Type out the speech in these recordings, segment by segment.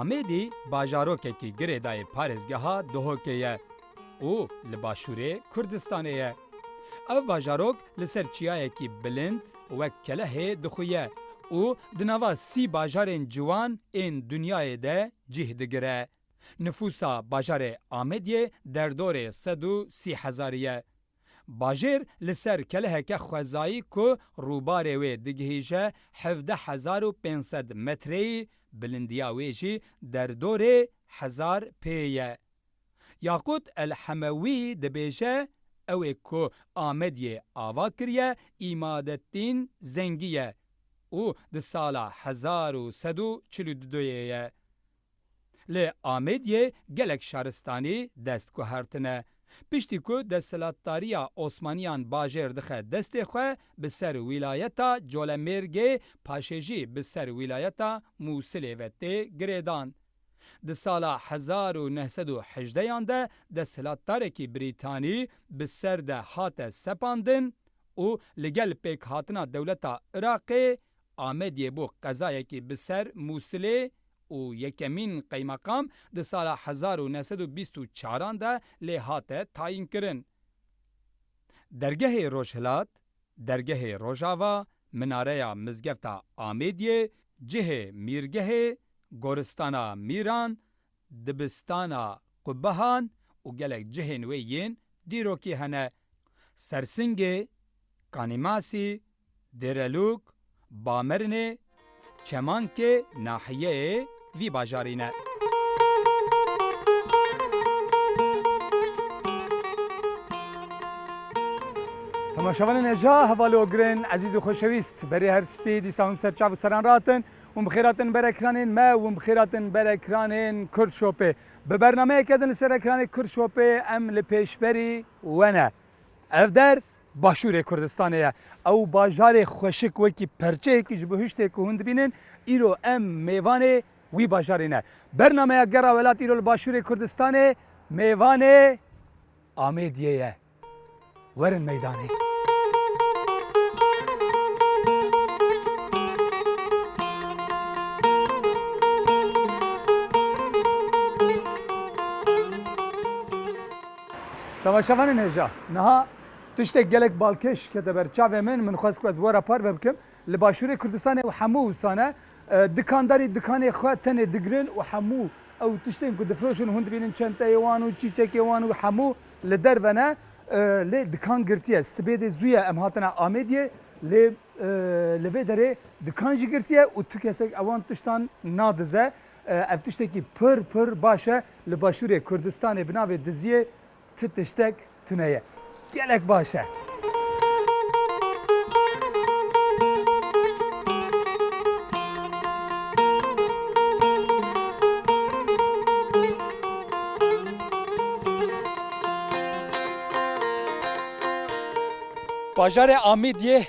Amêdî bajarokekî girêdayê parêzgeha Duhokê ye û li başûrê Kurdistanê ye. Ev bajarok li ser çiyayekî bilind wek kelehê dixuye û di nava sî bajarên ciwan ên dinyayê de cîh digire. Nifûsa bajarê Amêdiyê derdorê sed û sî hezarî ye. Bajêr li ser keleheke xwezayî ku rûbarê wê digihîje hevdeh hezar û pênc sed metreyî, bilindiya wê jî derdorê hezar pê ye. Yaqût El Hemewî dibêje, Ew ê ku Amediyê ava kiriye Îmadettîn Zengî ye û di sala hezar û sed û çil û du yê ye. Li Amêdiyê gelek şaristanî dest guhertine. Piştî ku desthilatdariya Osmaniyan bajêr dixe destê xwe bi ser wîlayeta Colemêrgê paşê jî bi ser wîlayeta Mûsilê ve tê girêdan. Di sala hezar û neh sed û hejdeh yan de desthilatdarekî Brîtanî bi ser de hate sepandin û li gel pêkhatina dewleta Iraqê Amediyê bû qezayekî bi ser Mûsilê û yekemîn qeymeqam di sala hezar û neh sed û bîst û çar an de lê hate tayînkirin. Dergehê Rojhilat, Dergehê Rojava, Minareya Mizgefta Amediyê, Cihê Mîrgehê, Goristana Mîran, Dibistana Qubehan û gelek cihên wê yên dîrokî hene. Sersingê, Kanîmasî, Dêrelûk, Bamerinê, Çemankê nahiyeyê vî bajarî ne. Temaşevanên Heja Hevalogirên ezîz û xweşewîst, berê her tiştî dîsa hûn bi ser çav û seran re hatin. Hûn bi xêr hatin ber ekranên me û hûn bi xêr hatin ber ekranên Kurdshopê. Bi bernameyeke din li ser ekranê Kurdshopê em li pêşberî we ne. Ev der Başûrê Kurdistanê ye. Ew bajarê xweşik wekî perçeyekî ji bo hiştê ku hûn dibînin, îro em mêvanê wî bajarê ne. Bernameya Gera Welat îro li Başûrê Kurdistanê mêvanê Amêdiyê ye. Werin meydanê. Temaşevanên hêja, niha tiştek gelek balkêş kete ber çavê min, min xwest ku ez were parve bikim. Li başûrê Kurdistanê û hemû wisane dikandarî dikanê xwe tenê digirin û hemû ew tiştên ku difroşin hûn dibînin çenteyê wan û çîçekê wan û hemû li derve ne lê dikan girtiye. Sibê dê zû ye em hatine Amêdiyê lê li vê derê dikan jî girtiye û tu kesek ewan tiştan nadize. Ev tiştekî pir pir baş e. Li Başûrê Kurdistanê bi navê Diziyê tu tiştek tune ye. Gelek baş e. Bajarê Amîdiyê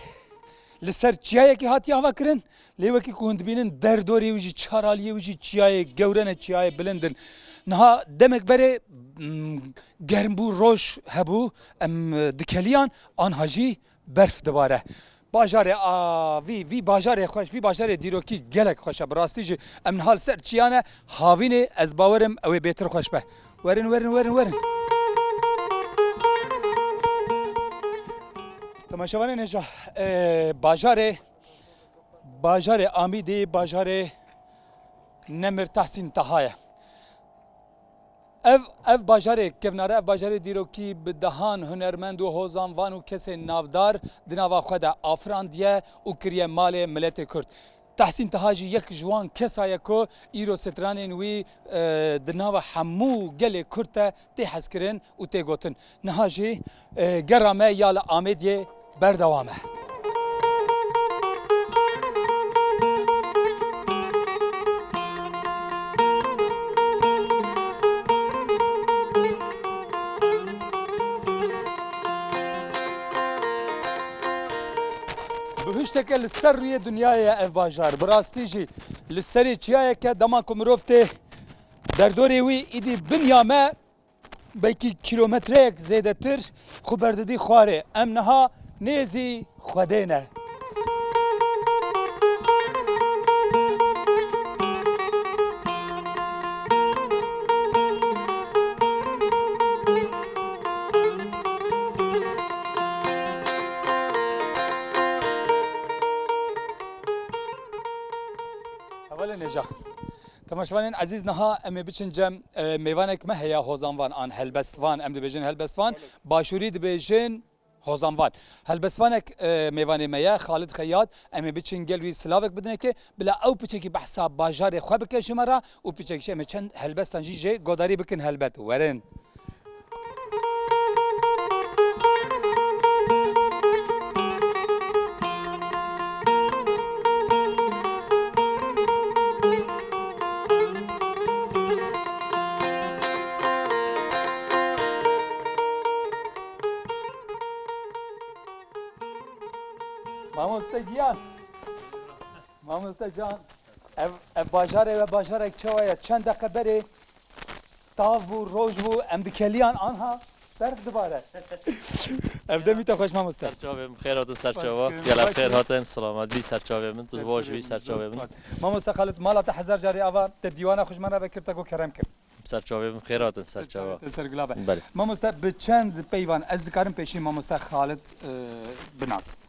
Li ser çiyayekî hatiye ava kirin, lê wekî ku hûn dibînin der dorê wî jî çar aliyê wî jî çiyayê gewre ne çiyayê bilind in. Niha demek berê germ bû roj hebû em dikeliyan anha jî berf dibare. Bajarê a vî vî bajarê xweş vî bajarê dîrokî gelek xweş e bi rastî jî em niha li ser çiyan e havînê ez bawerim ewê bêtir xweş be. Werin werin werin werin. Temaşevanên hêja bajarê bajarê Amîdê bajarê Nemir Tahsîn Taha ye. Ev ev bajarê kevnare ev bajarê dîrokî bi dehan hunermend û hozan van û kesên navdar di nava xwe de afirandiye û kiriye malê miletê Kurd. Tehsîn Taha jî yek ji wan kesa ye ku îro stranên wî di nava hemû gelê Kurd de tê hezkirin û tê gotin. Niha jî gera me ya li Amêdiyê berdewam e. Bihuşteke li ser rûyê dinyayê ye ev bajar, bi rastî jî li serê çiyayek e, dema ku mirov tê derdorê wî îdî bin ya me belkî kîlometreyek zêdetir xwe berdidî xwarê. Em niha nêzî Xwedê ne. Hevalên hêja. Temaşevanên ezîz niha em ê biçin cem mêvanek me heye hozanvan an helbestvan em dibêjin helbestvan başûrî dibêjin hozanvan. Helbestvanek mêvanê me ye Xalid Xeyat em ê biçin gel wî silavek bidinekê Bila ew piçekî behsa bajarê xwe bike ji me re û piçek jî em ê çend helbestan jî jê godarî bikin helbet werin. Mamoste giyan. Mamoste can ev ev bajarê ve bajarek çawa ye çend deqe berê tav bû roj bû em dikeliyan anha berf dibare. ev demî te xweş mamoste. Serçavê min xêr hatin serçava. Gela xêr hatin selamet bî serçavê min tu baş bî serçavê min. Mamoste Xalid mala te hezar carî ava te dîwana xwe ji min re vekir te got kerem kir. Serçavê min xêr hatin serçava. Ser gula be. Mamoste bi çend peyvan ez dikarim pêşî mamoste Xalid binasim.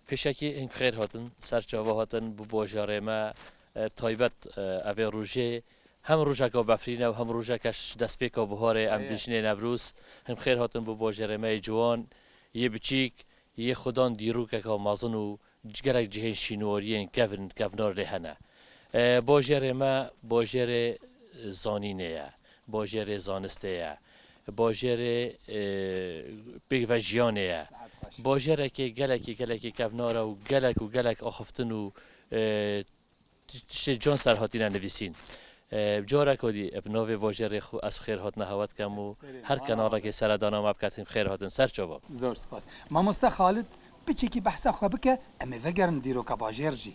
Pêşakî hîn xêr hatin ser çava hatin bi bajarê me taybet evê rojê hem rojeka befrîn e û hem rojeke ji destpêka biharê em dijinê Newrûz hîn xêr hatin bi bajarê me yê ciwan yê biçîk yê xwe dan dîrokeka mezin û gelek cihên şînwariyên kevn kevnar lê hene. Bajarê me bajarê zanînê ye. Bajêrê zanistê ye. Bajêrê pêkve jiyanê ye. Bajêrekê gelekî gelekî kevnar e û gelek û gelek axiftin û tiştê can ser hatîne nivîsîn. Bi careke dî bi navê Bajêrê xwe ez xêr hatina hewa dikem û her kenalekê sere dana me biketim xêr hatin ser çavan. Zor spas. Mamoste Xalid, piçekî behsa xwe bike, em ê vegerin dîroka bajêr jî.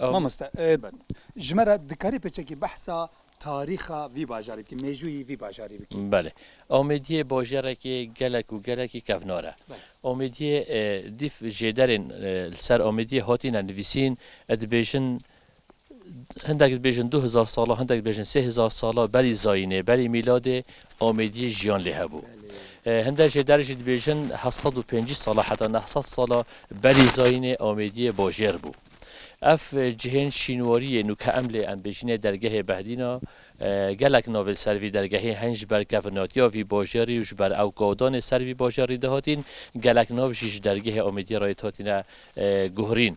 Mamoste, ji me re dikarî pêçekî behsa tarîxa vî bajarî bikî, mêjûyî vî bajarî bikî? Belê. Amêdiyê bajarekî gelek û gelekî kevnar e. Amêdiyê dîf jêderên li ser Amêdiyê hatîne nivîsîn, ez dibêjin hindek dibêjin du hizar sal a, hindek dibêjin sê hizar sal a, berî zayînê, berî mîladê Omêdiyê jiyan lê hebû. Hinde jê der jî dibêjin heft sed û pêncî sala heta neh sed sala berî zayînê Omêdiyê bajêr bû. Ev cihên şînwarî yên û ke em lê em bêjînê dergehê Behdîn a, gelek navên ser vî dergehê hen ji ber kevnatiya vî bajêrî û ji ber ew gadanê ser vî bajêrî dihatîn, gelek nav jî ji dergehê Omêdiyê re yê dihatîne guhrîn.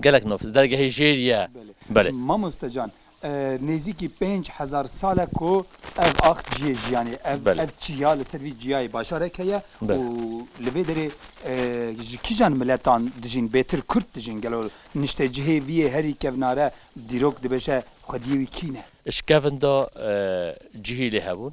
Gelek nû di dergehê jêr ye. Belê. Mamoste can, nêzîkî pênc hezar sal e ku ev ax ciyê jiyanê ye. Ev ev çiya li ser vî ciyayê bajarek heye û li vê derê ji kîjan miletan dijîn? Bêtir kurd dijîn. Gelo niştecihê vî yê herî kevnare dîrok dibêje xwediyê wî kî ne? Ji kevin de cihî lê hebûn.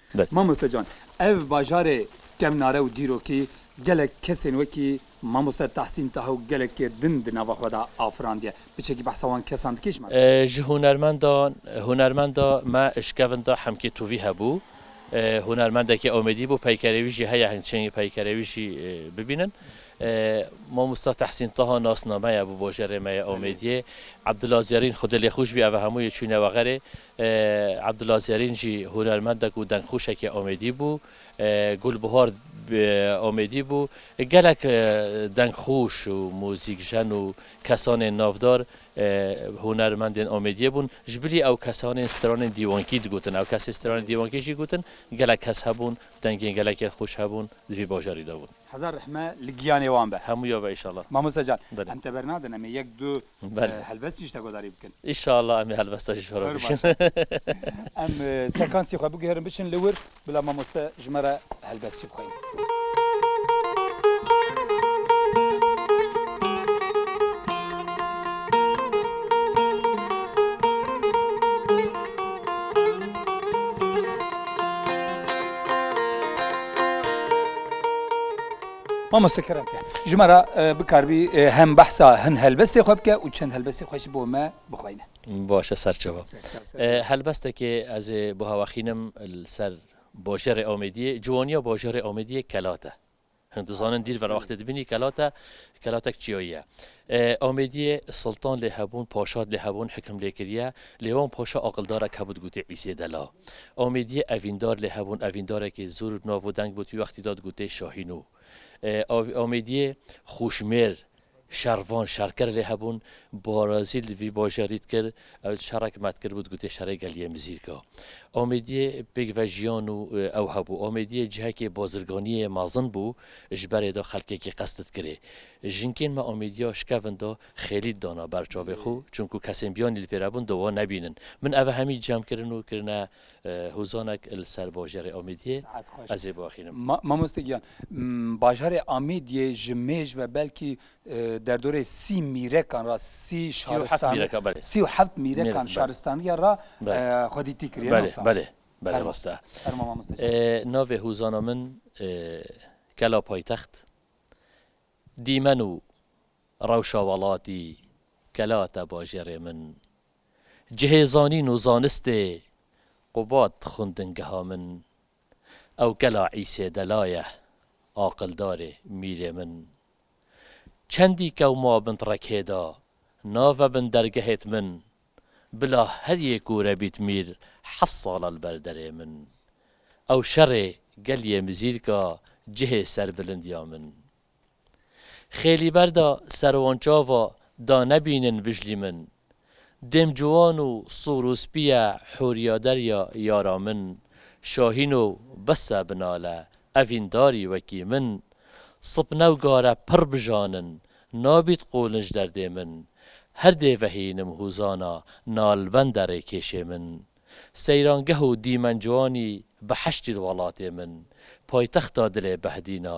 Mamoste Can, ev bajarê kemnare û dîrokî gelek kesên wekî Mamoste Tahsîn Taha û gelekê din di nava xwe de afirandiye. Piçekî behsa wan kesan dike ji me re. Ji hunermendan, hunermenda me Şkevinda Hemkê Tuvî hebû. Hunermendekî omêdî bû, peykerê wî jî heye hing çengê peykerê wî jî bibînin. Mamoste Tahsîn Taha nasnameye bû bajarê me ya omêdiyê. Ebdula Zerîn xwedê lê xwîş bî ev hemû yê çûne we xerê. Abdullah Zerîn jî hunermendek û dengxwişekî Amêdî bû. Gulbihar Amêdî bû. Gelek dengxwiş û muzîkjen û kesanên navdar hunermendên Amêdiyê bûn. Ji bilî ew kesanên stranên dîwankî digotin. Ew kesên stranên dîwankî jî gotin gelek kes hebûn, dengên gelekê xwiş hebûn di vî bajarî de bûn. Hezar rehme li giyanê wan be. Hemû ya be îşallah. Mamoste can em teber nadin em ê yek du Belê. Helbest jî ji te guhdarî bikin. Înşallah em ê helbesta jî ji we re bişin. Em sekansê xwe biguherin biçin li wir bila mamoste ji me re helbest jî bixwîne. Mamoste Keremke, ji me re bikaribî hem behsa hin helbestê xwe bike û çend helbestê xwe ji bo me bixweyne. Baş e serçava. Helbestekê ez ê bihewexînim li ser bajarê Amêdiyê. Ciwaniya bajarê Amêdiyê kelat e. Hin dizanin dîr verwextê dibînî kelat e. Kelatek çiyayî ye. Amêdiyê Siltan lê hebûn, Paşat lê hebûn hikim lê kiriye, lê wan paşa aqildarek hebû digotê Îsê Dela. Amêdiyê Evîndar lê hebûn, Evîndarekê zûr û navo deng bû tu wextî da digotê Şahînû. Amêdiyê Xûşmêr, Şervan, Şerker lê hebûn, Barazîl vî bajarî dikir, Ew şerek me dikiribû digotê şerê geliyê Mizîrka. Amêdiyê pêk ve jiyan û ew hebû. Amêdiyê cihekê bazirganiyê mezin bû, ji berê de xelkekî qesd dikirê. Jinkên me Amêdiya şikevin de xêlî dana ber çavê xwe, çunku kesên biyanî li pêre bûn di wan nebînin. Min ev hemî cem kirin û kirine Hûzanek li ser bajarê Amêdiyê ez ê biaxînim. Mamoste giyan, bajarê Amêdiyê ji mêj ve belkî derdorê sî mîrekan re, sî û heft mîrekan şaristaniya re xwedîtî kiriye. Belê, belê, belê rast e. Fermo mamoste giyan. Navê hûzana min Kela Paytext, dîmen û rewşa welatî, kela te bajarê min Cihê zanîn û zanistê Qubat xwindingeha min. Ew gela Îsê Delaye, aqildarê mîrê min. Çendî kew ma bin rekê de, nave bin dergehêt min. Bila her yê kûre bît mîr heft sala li ber derê min. Ew şerê gel yê mizîrka cihê serbilindiya min. Xêlî ber de serwan çava da nebînin vijlî min. Dêm ciwan û sor û spî ye hûrîya derya yara min. Şahîno bes e binale evîn darî wekî min. Sip newgare pirr bijanin nabît qolin ji derdê min. Her dê vehînim hûzana nalbende rêkêşê min. Seyrangeh û dîmen ciwanî bi heştî li welatê min. Paytexta dilê behdîna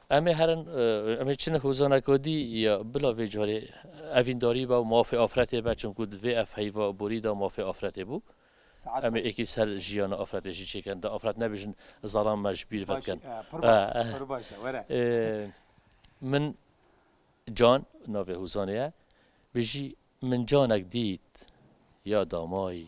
Em ê herin, em ê çin hozana godî ya bila vê carê evîndarî be û mafê afretê be çimkû di vê ev heyva borî de mafê afretê bû. Em ê ekî ser jiyana afretê jî çêkin da afret nebêjin zalan me ji bîr vedikin. Min Can navê hozanê ye bêjî, Min canek dît ya damayî.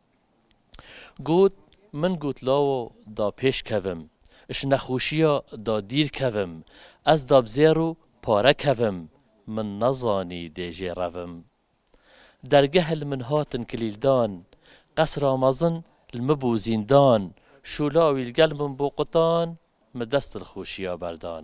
Got, Min got lawa da pêş kevim, ji nexweşiya da dîr kevim, ez da bi zêr û pare kevim, min nezanî dê jê revim. Dergeh li min hatin kilîldan, qesra mezin li min bû zîndan, şûla wî li gel min bû qutan, min dest dilxweşiya berdan.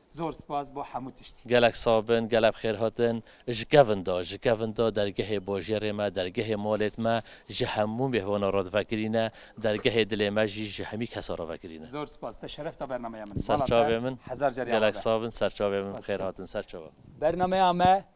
Zor spas bo hemû tiştî. Gelek sax bin, gelek bixêr hatin. Ji kevin da, ji kevin da dergehê bajêrê me, dergehê malêt me ji hemû mêhvanan re divekirî ne, dergehê dilê me jî ji hemî kesan re vekirî ne. Zor spas, te şeref da bernameya min. Mala te hezar car ya ma be. Gelek sax bin, serçavê min bixêr hatin, serçava. Bernameya me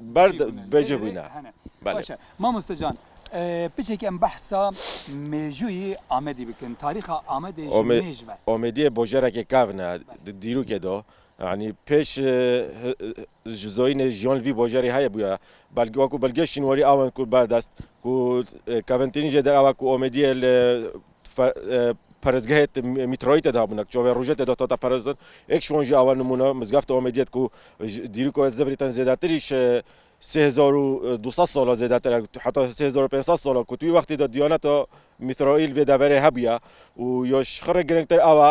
Berd bêje bûne. Baş e. Mamoste can, piçekî em behsa mêjûyî Amedî bikin. Tarîxa Amedê ji mêj ve. Amedî bajarekê kevn e di dîrokê de. Yanî pêş ji zoyînê jiyan li vî bajarê heye bûye. Belge wekû belgeyê şînwarî awen ku berdest ku kevintînî jê der ew e ku Amedî li Parêzgehê te mîtroyî te dabûne ki çavê rojê te de hate parêzin. Êk ji wan jî awe nimûne Mizgefta Amedî ye ku ji dîroko ya Zibrî ten zêdetirî ji sê hezar û du sed sala zêdetir e heta sê hezar û pênc sed sala ku tu wî wextî de dîyaneta mîtroyî li vê deverê hebûye û ya ji xwe re girîngtir awe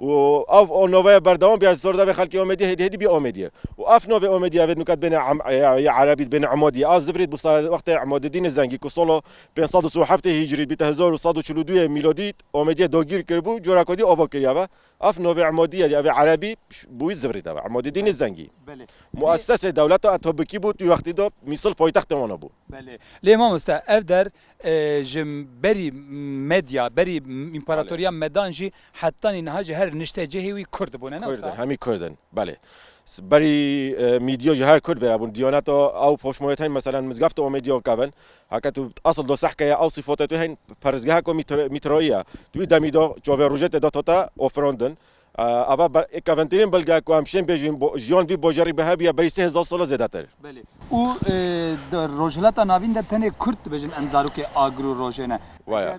û ev navaya berdewam biya ji zordavê xelkê Amediyê hêdî hêdî bî Amediyê û ev navê Amediyê ev ê nukat bêne ya Erebî dibêne Amadiye a zivrî bu wextê Emadedînê Zengî ku sola pênc sed û si û heftê hîcrî bîte hezar û sed û çil û duyê mîladî Amediyê dagîr kiribû coreka dî ava kiriyav e ev navê Emadiyê ev ê Erebî bi wî zivrî de be Emadedînê Zengî muessesê dewleta Etobikî bû di wextî de Mîsil paytextê wan a bû. Belê lê mamoste ev der ji berî Medya berî Împaratoriya Medan jî Hetanî niha ji her niştecihê wî kurd bûne ne wisa? Kurd in, hemî kurd in. Belê. Berî mîdyo ji her kurd vera bûn. Diyaneto ew poşmoyet hene meselen mizgaf tu omêdiyo ke bin. Heke tu asl do sehke ye ew sîfotê tu hene perrizgeha ku mîtroyî ye. Tu wî demî do çavê rojê tê de to te ofirandin. Eva kevintîrîn bilge ku em şên bêjin jiyan vî bajarî bi hev ye berî sê hezar sal e zêdetir. Belê. Û di Rojhilata Navîn de tenê kurd dibêjin em zarokê agir û rojê ne. Waya.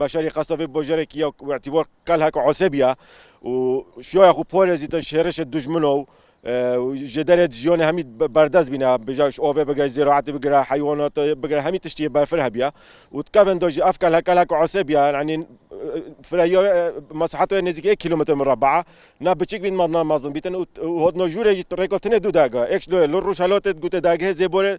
Bajarê Qasavê bajarekî ya ku îtîbar Qalha ku Asebî ya û şiyaya xwe parêzî da ji hêrişê dijmin û ji derê di jiyanê hemî berdest bîne. Bêje ji avê bigire ziraetê bigire heywanatê bigire hemî tiştî yê berfir hebîye û di kevên de jî ev Qalha Qalha ku Asebî ya yanî firehîya mesaheta wê nêzîkî yek kîlometre mureba ye. Ne biçik bîn ne mezin bîtin û hatina jûrê jî rêka tune du dergeh ê. Yek ji dawê li rojhelatê di gotê dergehê Zêborê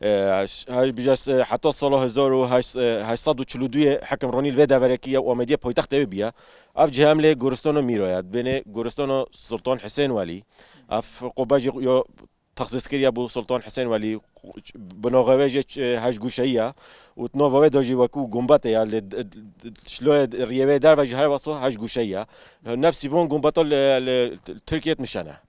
Heta sala hezar û heşt sed û çil û duyê hikimronî li vê deverekî ya Amediyê paytextê wê bûye. Ev cih em lê goristana Mîro ye. Dibêne goristana Sultan Hisên Welî. Ev qubbe jî ya texsîskirîye bo Sultan Hisên Welî. Bi nava wê jî heştgoşeyî ye û di nava wê de jî wekû gumbetê ye. Lê şiloyê rîyê wê derve jî her wexto heştgoşeyî ye. Nefsî van gumbeta li Tirkiyeyê nişen e.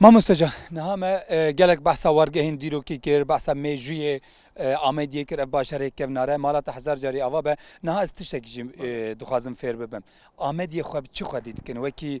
Mamoste can niha me e, gelek behsa wargehên dîrokî kir, behsa mêjûyê e, Amediyê kir ev bajarê kevnare mala te hezar carî ava be. Niha ez tiştekî jî e, dixwazim fêr bibim. Amediyê xwe bi çi xwedî dikin wekî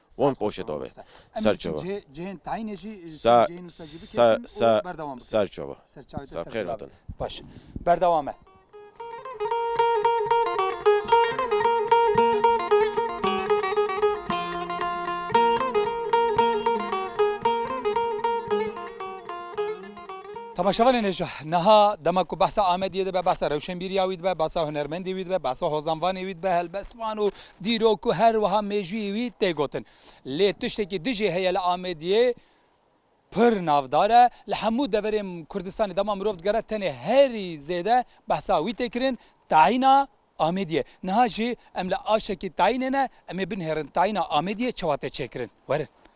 Wan qoşê dave ser çawa. Sa sa sa ser çawa. Sa xêr hatin. Baş berdewam e. Temaşevanên hêja niha dema ku behsa Amediyê dibe, behsa rewşenbîriya wî dibe, behsa hunermendê wî dibe, behsa hozanvanê wî dibe, helbestvan û Dîrok ku her wiha mêjûyî wî tê gotin. Lê tiştekî dijî heye li Amêdiyê pir navdar e. Li hemû deverên Kurdistanê dema mirov digere tenê herî zêde behsa wî tê kirin tayîna Amêdiyê. Niha jî em li aştekî tayînê ne, em ê binihêrin tayîna Amêdiyê çawa tê çêkirin. Werin.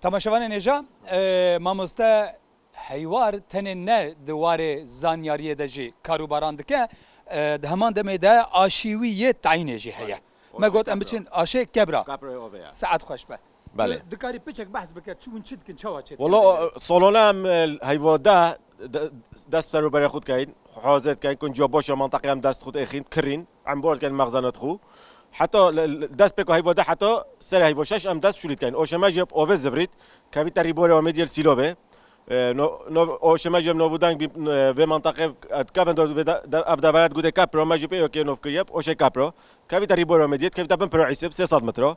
Tamaşevanên hêja mamoste heywar tenê ne di warê zanyariyê de jî karûbaran dike di heman demê de aşî wî yê tayînê jî heye. Me got em biçin aşê kebra. Saet xweş be. Belê. Tu dikarî piçek behs bike çi hûn çi dikin çawa çêdikin? Wala salona em heyva de dest ser û berê xwe dikeyin, xwehazê dikeyin, kunciya baş ya menteqê em dest xwe diêxîn, kirîn, embûr dikeyin mexzena di xwe. Heta dest pêka heyva de heta serê heyva şeş em dest şûlî dikeyin. Oşeme jî avê zivrît, kevî terî borê Amêdî yê li Sîlobê. Oşeme jî em navûdeng bîn vê menteqê di kevin de ev devera di gotê Kepra, me jî pê OK'ê nav kirî ye, Oşê Kepra. Kevî te rî borê Amêdî yê, dikevî te bin pira Îsêb, sê sed metre.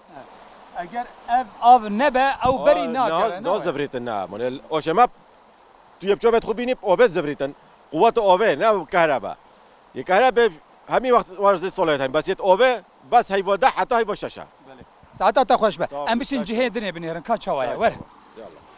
Eger ev av nebe ew berî nake. Na zivrîtin na mune oşema tu yê bi çavê xwe bînî avê zivrîtin quweta avê ne kehreba. Yê kehrebe hemî wext warzê solê hene bes yê avê bes heyva de heta heyva şeş e. Saeta te xweş be. Em biçin cihê dinê binêrin ka çawa ye were.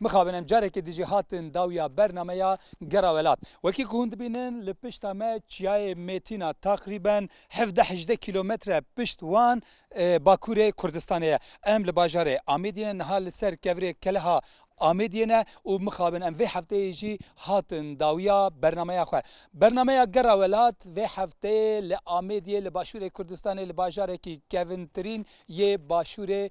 Mixabin em carekê dijî hatin dawîya bernameya Gera Welat. Wekî ku hûn dibînin li pişta me çiyayê Mêtîn a taqrîben hevdeh hejdeh kîlometre pişt wan bakurê Kurdistanê ye. Em li bajarê Amêdiyê ne niha li ser kevirê Keleha Amêdiyê ne û mixabin em vê hefteyê jî hatin dawîya bernameya xwe. Bernameya Gera Welat vê hefteyê li Amêdiyê li başûrê Kurdistanê li bajarekî kevintirîn yê başûrê